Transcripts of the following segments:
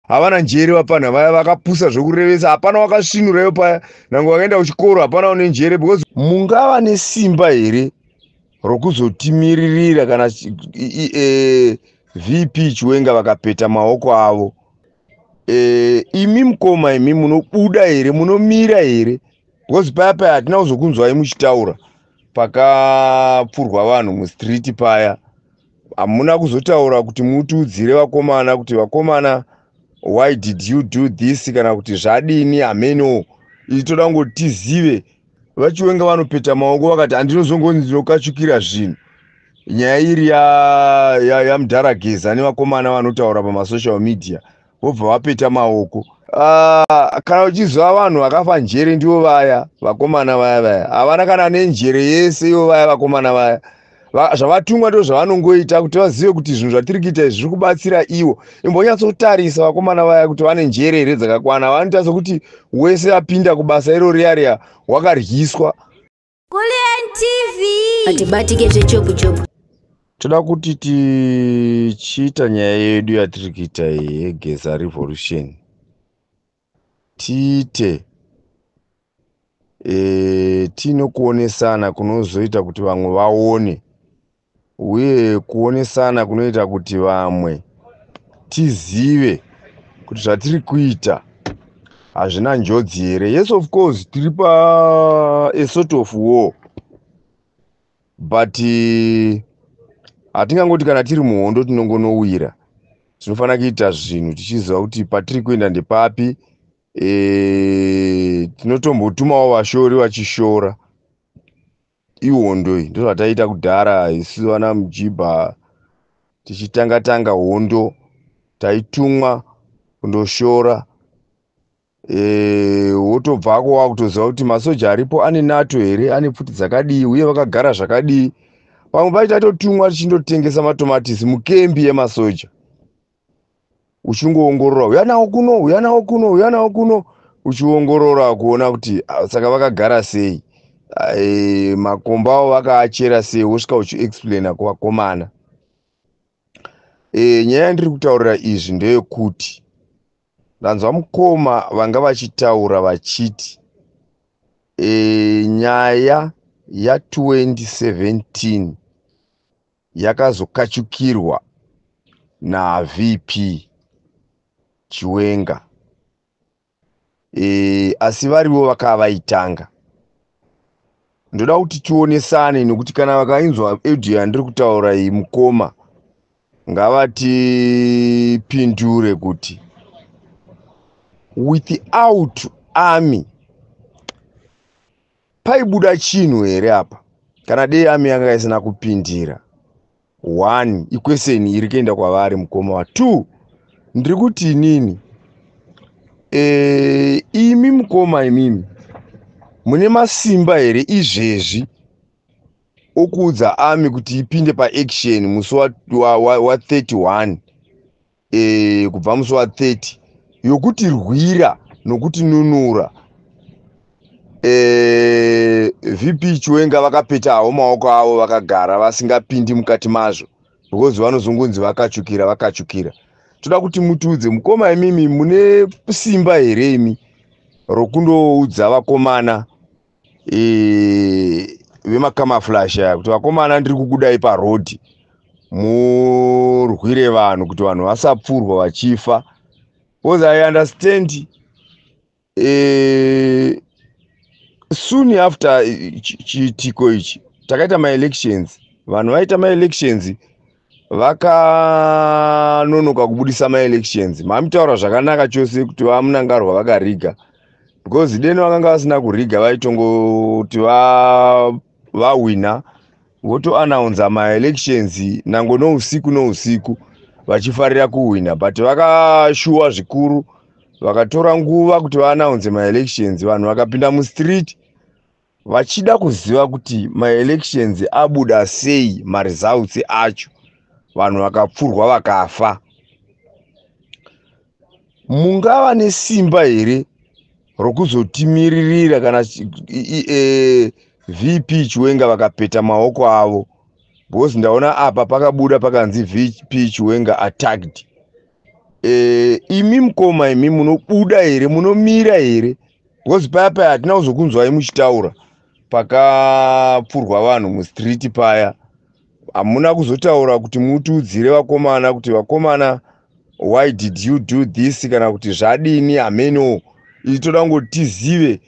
havana njere vapana vaya vakapusa zvekurevesa hapana wakasvinurayo paya nange wakaenda kuchikoro hapana une njere because mungava nesimba here rokuzotimiririra kana e, vp chiwenga vakapeta maoko avo e, imi mukoma imi munobuda here munomira here because paya paya hatina kuzokunzwai muchitaura pakapfurwa vanhu mustreet paya hamuna kuzotaura kuti mutiudzire vakomana kuti vakomana why did you do this kana kuti zvadini hameno isu toda kungoti tizive vachiwenga vanopeta maoko vakati handinozongonzi ndinokachukira zvinhu nyaya iri yamudhara ya, ya geza nevakomana vanotaura pamasocial media vobva vapeta maoko Ah, kana uchiziva vanhu vakafa njere ndivo vaya vakomana vaya vaya havana kana nenjere yese ivo vaya vakomana vaya zvavatumwa ndo zvavanongoita kuti vazive kuti zvinhu zvatiri kuita izvi zviri kubatsira ivo imbonyatsotarisa vakomana vaya kuti vane njere here dzakakwana vanoita sokuti wese apinda kubasa iro riya riya wakaryiswa Kulien TV. Hatibatike zvechopu chopu. Toda kuti tichiita nyaya yedu yatiri kuita yegeza revolution tiite e, tiine kuonesana kunozoita kuti vamwe vaone uye kuonesana kunoita kuti vamwe tizive kuti zvatiri kuita hazvina njodzi here yes of course tiri pa a sort of war but eh, hatingangoti kana tiri muhondo tinongonowira tinofanira kuita zvinhu tichiziva kuti patiri kuenda ndepapi e, tinotombotumawo vashori vachishora ihondo iyi ndozvataiita kudhara isu vana mujibha tichitanga tanga hondo taitumwa kundoshora e, wotobvako wakutoziva kuti masoja aripo ane nato here ane pfuti dzakadii uye vakagara zvakadii pamwe pacho taitotumwa tichindotengesa matomatisi mukembi yemasoja uchingoongorora uya nawo kuno uya nawo kuno uya nawo kuno uchiongorora kuona kuti ah, saka vakagara sei eh, makomba avo vakaachera sei wosvika uchiexplaina kuvakomana e, nyaya yandiri kutaurira izvi ndeyekuti ndanzwa mukoma vanga vachitaura vachiti e, nyaya ya 2017 yakazokachukirwa naVP Chiwenga e, asi varivo vakava vaitanga. Ndoda kuti tionesane nekuti kana vakainzwa audio yandiri kutaura iyi mukoma ngavatipindure kuti without army paibuda chinhu here apa kana dei ami yanga isina kupindira one ikweseni iri kuenda kwavari mukoma wa two ndiri kuti inini e, imi mukoma imimi mune masimba here izvezvi okuudza ami kuti ipinde paaction musi wa31 e, kubva musi wa 30 yokuti rwira nokuti nunura e, vp chiwenga vakapetawo maoko avo vakagara vasingapindi mukati mazvo because vanozongonzi vakachukira vakachukira toda kuti mutiudze mukoma imimi mune simba here imi rokundoudza vakomana eh, vemakamaflash aya kuti vakomana ndiri kukudai parhodhi murwire vanhu kuti vanhu vasapfurwa vachifa because i understand eh, soon after chiitiko ichi takaita maelections vanhu vaita maelections vakanonoka kubudisa maelections mamitaura zvakanaka chose kuti vamunangarwa vakariga because deni vakanga vasina kuriga vaitongoti vahwina votoanaunza maelections nango nousiku nousiku vachifarira kuhwina but vakashuwa zvikuru vakatora nguva kuti vaanaunze maelections vanhu vakapinda mustreet vachida kuziva kuti maelections abuda sei maresults acho vanhu vakapfurwa vakafa mungava nesimba here rokuzotimiririra kana e, vp chiwenga vakapeta maoko avo because ndaona apa pakabuda pakanzi vp chiwenga attacked e, imi mukoma imi munobuda here munomira here Because paya paya hatina kuzokunzwai muchitaura pakapfurwa vanhu mustreet paya hamuna kuzotaura kuti mutiudzire vakomana kuti vakomana why did you do this kana kuti zvadini hameno ii toda kungoti tizive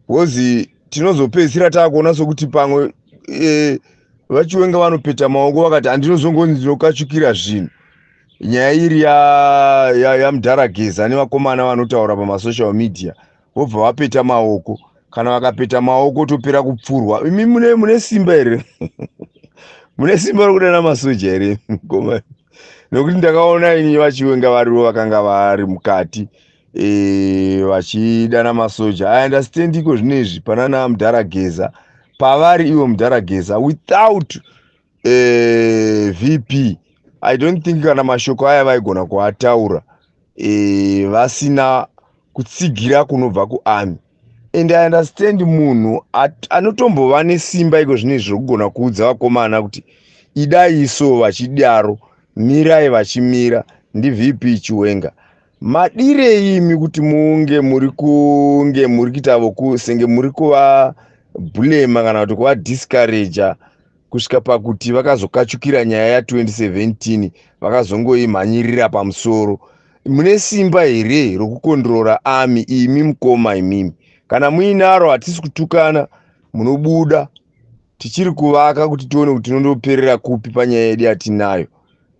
bcause tinozopedzisira taakuona sokuti pamwe e, vachiwenga vanopeta maoko vakati handinozongonzi ndinokachukira zvinhu nyaya iri yamudhara ya, ya geza nevakomana vanotaura pamasocial media vobva vapeta maoko kana vakapeta maoko topera kupfurwa imi mune, mune simba here mune simba rokudana masoja here mukomana nokuti ndakaona ini vachiwenga varivo vakanga vari mukati e, vachidana masoja i understand iko zvino izvi panana mudhara geza pavari ivo mudhara geza without eh, vp i don't think kana mashoko aya vaigona kuataura eh, vasina kutsigira kunobva kuami and i understand munhu anotombova nesimba iko zvine izvi zvokugona kuudza vakomana kuti idai iso vachidaro mirai vachimira ndivp chiwenga madirei imi kuti munge muri kunge muri kuita voku senge muri kuvabhulema kana kuti kuvadiscourager kusvika pakuti vakazokachukira nyaya ya 2017 vakazongoimhanyirira pamusoro mune simba here rokukondrora ami imi mukoma imimi kana muinaro hatisi kutukana munobuda tichiri kuvaka kuti tione kuti tinondoperera kupi panyaya yedu yatinayo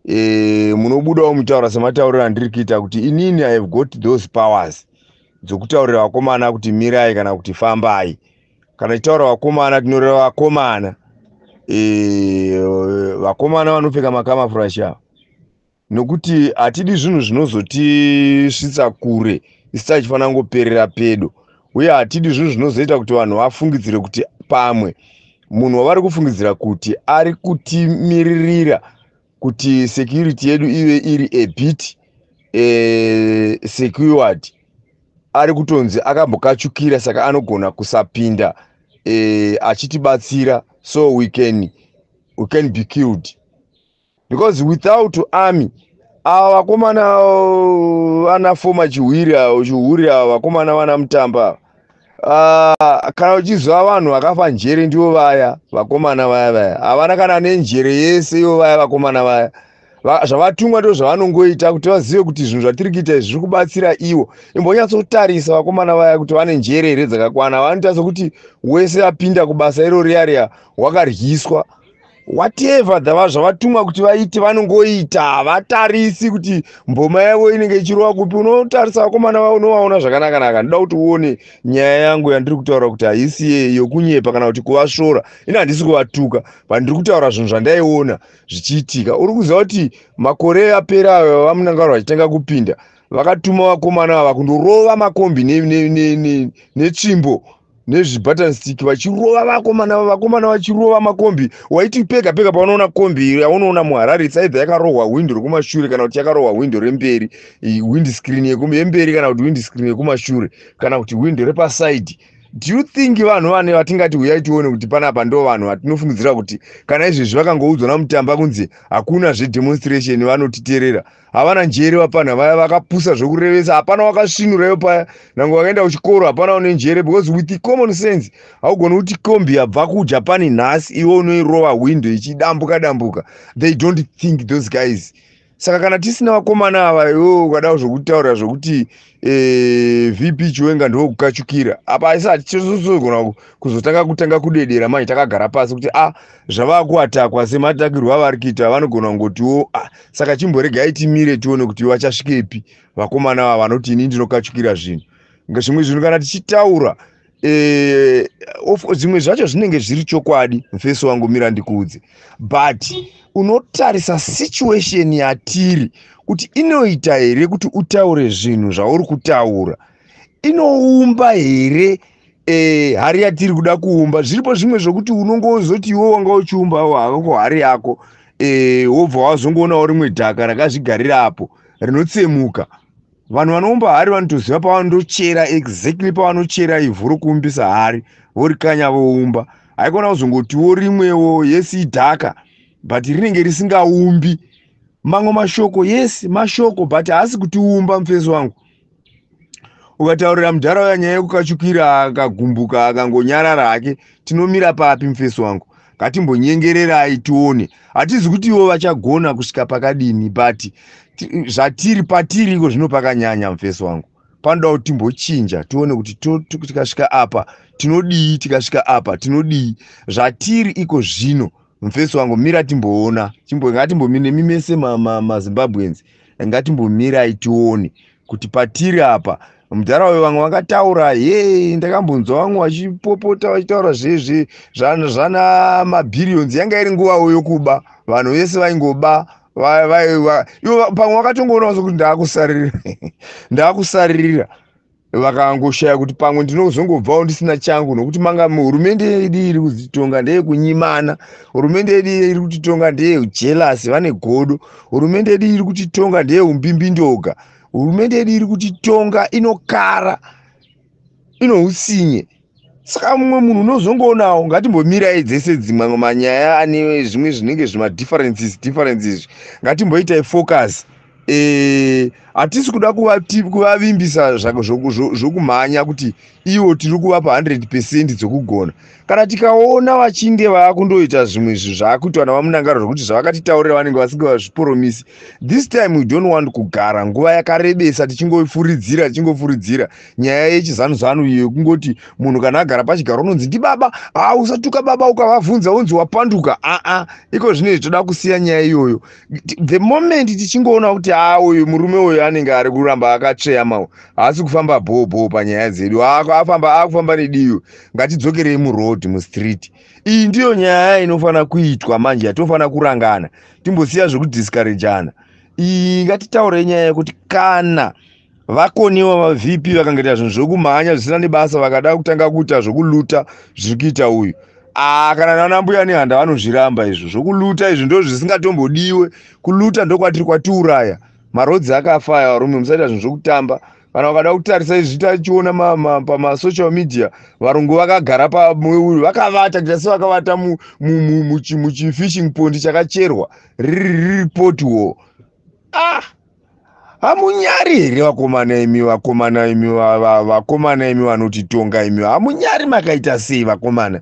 e, eh, munobudawo mutaura sematauriro andiri kuita kuti inini i have got those powers dzokutaurira vakomana kuti mirai kana kuti fambai kana tichitaura vakomana tinoreva vakomana e, vakomana vanopfeka makamafurashi ava nokuti hatidi zvinhu zvinozotisvitsa kure isi tachifanira kungoperera pedo uye hatidi zvinhu zvinozoita kuti vanhu vafungidzire kuti pamwe munhu wavari kufungidzira kuti ari kutimiririra kuti security yedu ive iri a bit eh, secured ari kutonzi akambokachukira saka anogona kusapinda eh, achitibatsira so we can, we can be killed because without army ava vakomana ana foma chihwiri avo chihuri avo vakomana vana mutamba ava Ah, kana uchiziva vanhu vakafa njere ndivo vaya vakomana vaya vaya havana kana nenjere yese ivo vaya vakomana vaya zvavatumwa ndo zvavanongoita kuti vazive kuti zvinhu zvatiri kuita izvi zviri kubatsira ivo imbonyatsotarisa vakomana vaya kuti vane njere here dzakakwana vanoita sokuti wese apinda kubasa iro riya riya wakaryiswa whatever dhava zvavatumwa kuti vaite vanongoita havatarisi kuti mboma yavo inenge ichirova kupi unotarisa vakomana vavo unovaona zvakanakanaka ndoda kuti uone nyaya yangu yandiri kutaura kuti haisi ye yokunyepa kana kuti kuvasvora ini handisi kuvatuka pandiri kutaura zvinhu zvandaiona zvichiitika uri kuziva kuti makore apera ayo vamunangaro vachitanga kupinda vakatuma vakomana ava kundorova makombi netsvimbo ne, ne, ne, ne, ne, ne, ne, ne, ne, ne, ne, ne, ne, nezvibutton stick vachirova vakomana vakomana vachirova makombi waiti pega pega paunoona kombi yaunoona muharare it's either yakarohwa hwindo rekumashure kana kuti yakarohwa hwindo remberi wind screen yemberi kana kuti wind screen yekumashure kana kuti hwindo repasaidi do you think vanhu vane vatingati huyai tione kuti panapa ndo vanhu vatinofungidzira kuti kana izvezvi vakangoudzwa namutamba kunzi hakuna zvedemonstration vanotiterera havana njere vapana vaya vakapusa zvekurevesa hapana wakasvinurayo paya nange wakaenda kuchikoro hapana une njere because with common sense haugoni kuti kombi yabva kujapan nhasi iwe unoirova window ichidambuka dambuka they don't think those guys saka kana tisina vakomana ava iwe ukadao zvokutaura zvokuti eh, vp chiwenga ndokukachukira apa haisati chizozogona kuzotanga kutanga kudedera manje takagara pasi kuti a ah, zvava kuatakwa sematakirwo avari kuita vanogona kungotiwo a ah, saka chimboregai timire tione kuti vachasvikepi vakomana va vanoti ini ndinokachukira zvinhu zvimwe zvinhu kana tichitaura eh, zvimwe zvacho zvinenge zviri chokwadi mfesi wangu mira ndikuudze but unotarisa situation yatiri kuti inoita here kuti utaure zvinhu zvauri kutaura inoumba here eh, hari yatiri kuda kuumba zviripo zvimwe zvokuti unongozoti iwe wanga uchiumbawo hako hari yako eh, wobva wazongoonawo rimwe dhaka rakazvigarira apo rinotsemuka vanhu vanoumba hari vanotoziva pavanotochera exactly pavanochera ivhu rokuumbisa hari vorikanya voumba haikona kuzongotiwo rimwewo yes idhaka but rinenge risingaumbi mamwe mashoko yes mashoko but haasi kutiumba mufesi wangu ukataurira mudhara uya nyaya yekukachukira akagumbuka akangonyarara hake tinomira papi mufesi wangu ngatimbonyengererai tione hatizi kuti ivo vachagona kusvika pakadini but zvatiri patiri iko zvino pakanyanya mufesi wangu panoda kuti timbochinja tione kuti tikasvika apa tinodii tikasvika apa tinodii zvatiri iko zvino mufesi wangu mira timboona ngatimbomi nemi mese mazimbabwenzi ma, ma, ngatimbomirai tione kuti patiri apa mudhara uyo vamwe vakataura ye ndakambonzwa vamwe vachipopota vachitaura zvezve zvana mabhiriyonzi yanga iri nguva uyo kuba vanhu vese vaingoba ivo pamwe vakatongoonawo sokuti ndaakusaririra ndaakusaririra vakangoshaya kuti pamwe ndinozongobvawo ndisina changu nokuti manga hurumende yedu iri kuzitonga ndeyekunyimana hurumende yedu iri kutitonga ndeyejelasi vane godo hurumende yedu iri kutitonga ndeyeumbhimbindoga hurumende yedu iri kutitonga inokara inousinye saka mumwe munhu unozongoonawo ngatimbomirai dzese dzimwe manyaya ane zvimwe zvinenge zvimadifferences differences izvi ngatimboitai focus eh, hatisi kuda kuvavimbisa zvokumhanya kuti iwo tiri kuvapa 100 pecent dzokugona kana tikaona vachinge vakundoita zvimwe zvinhu zvaakuitwa navamunangaro zvokuti zvavakatitaurira vanenge vasinge vazviporomisi this time we don't want kugara nguva yakarebesa tichingofuridzira tichingofuridzira nyaya yechizanu zanu iyo yekungoti munhu kana agara pachigaro unonzi ndibaba haa usatuka baba ukavavhunza unzi wapanduka aa iko zvino izvi toda kusiya nyaya iyoyo the moment tichingoona kuti haa uyu murume uyu anenge ari kuramba akatsveyamawo haasi kufamba bhoo bhoo panyaya dzedu afamba akufamba nediyo ngatidzokerei muroad mustreet iyi ndiyo nyaya inofanira kuitwa manje yatofanira kurangana timbosiya zvekudiskarejana iyi ngatitaurei nyaya yekuti kana vakoniwa vavp vakangaita zvinhu zvekumhanya zvisina nebasa vakada kutanga kuita zvekuluta zviri kuita uyu aa ah, kana nanambuya nehanda vanozviramba izvo zvokuluta izvi ndo zvisingatombodiwe kuluta ndokwatiri kwatiuraya marodzi akafa aya varume musaita zvinhu zvekutamba kana ukada kutarisa izvi tachiona pamasocial media varungu vakagara pamueuri vakavata kuita sevakavata muchifishing pondi chakacherwa riri poti wo ah hamunyari here vakomana imi vakomana imi vakomana imi vanotitonga imi hamunyari makaita sei vakomana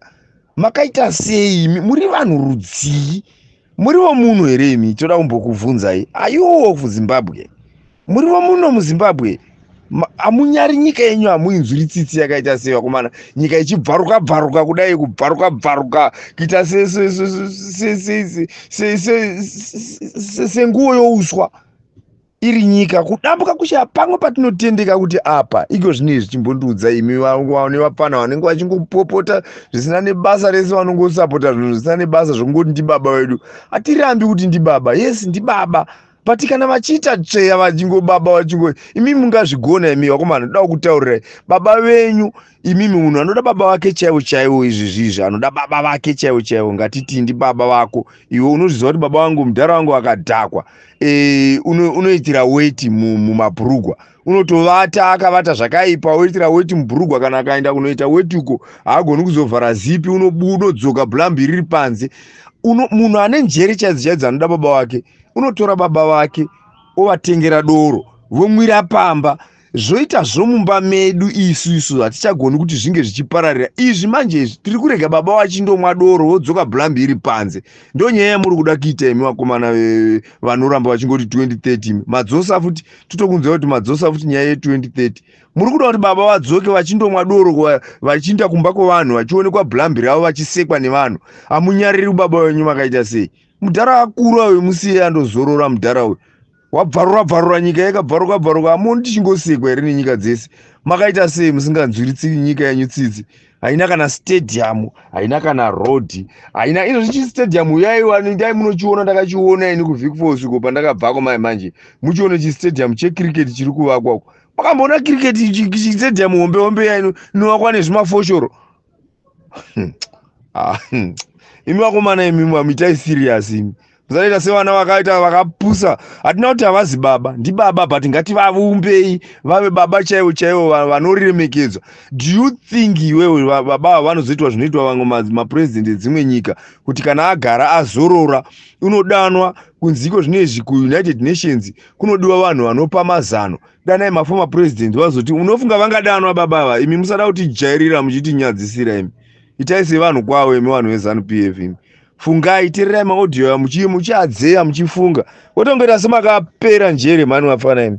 makaita sei imi muri vanhu rudzii muriwo muno here imi toda kumbokubvunzai ayuwo kuzimbabwe muriwo muno muzimbabwe amunyari nyika yenyu hamuinzwiri tsitsi yakaita sei vakomana nyika ichibvaruka bvaruka kudai kubvaruka bvaruka kuita senguo youswa iri nyika kudambuka kushaya pamwe patinotendeka kuti apa iko zvinei zvichimbondiudza imi vaone vapfana vanenge vachingopopota zvisina nebasa rese vanongosapota zvinhu zvisina nebasa zvokungoti ndibaba vedu hatirambi kuti ndibaba yes ndibaba but kana vachiita tsveya vachingobaba vachingo imi mungazvigona imi vakomana ndoda kukutaurirai baba venyu imimi munhu anoda baba vake chaivo chaivo izvi zvizvi anoda baba vake chaivo chaivo ngatitii ndi baba vako iwe unozviziva kuti baba vangu mudhara vangu vakadhakwa e, unoitira uno weti mumabhurugwa unotovata akavata zvakaipa oitira weti mubhurugwa kana akaenda kunoita weti uko haagoni kuzovhara zipi unodzoka blambi riri panze munhu ane njere chaidzo chaidzo anoda baba vake unotora baba vake ovatengera doro vomwira pamba zvoita zvomumba medu isu isu hatichagoni kuti zvinge zvichipararira izvi manje izvi tiri kurega baba vachindomwa doro vodzoka blambi iri panze ndo nyaya yamuri kuda kuita imi vakomana vanoramba vachingoti 2030 madzosa futi totokunzwa kuti madzosa futi nyaya ye2030 muri kuda kuti baba vadzoke vachindomwa doro vachiinda kumba kwevanhu vachionekwa blambi ravo vachisekwa nevanhu hamunyariri baba venyu makaita sei mudhara akura uyu musiye andozorora mudhara uyu wabvarura bvarura nyika yakabvaruka bvaruka hamoni tichingosekwa here nenyika dzese makaita sei musinganzwiritsi nyika yanyu tsitsi haina kana stadium haina kana road haina izvo zvichi stadium yaiwani dai munochiona ndakachiona ini kuvic falls uko pandakabvako mai manje muchione chistadium checricket chiri kuvakwa uko makamboona cricket chistadium hombe hombe yaino inovakwa nezvimafoshoro Hmm. Ah, hmm. imi vakomana imi mamitai serious imi musanoita sevana vakaita vakapusa hatina kuti havazi baba ndibaba but ngativavumbei vave baba chaivo chaivo vanoremekedzwa do you think iwewe baba ava vanozoitwa zvinoitwa vamwe mapurezidendi edzimwe nyika kuti kana agara azorora unodanwa kunziko zvino izvi kuunited nations kunodiwa vanhu vanopa mazano danai maformer president vazoti unofunga vangadanwa baba ava imi musada kutijairira muchitinyadzisira imi itai sevanhu kwavo imi vanhu vezanup f imi fungai tererai maaudio ya muchii muchiadzeya muchifunga wotongoita semakapera njere mhani vafana imi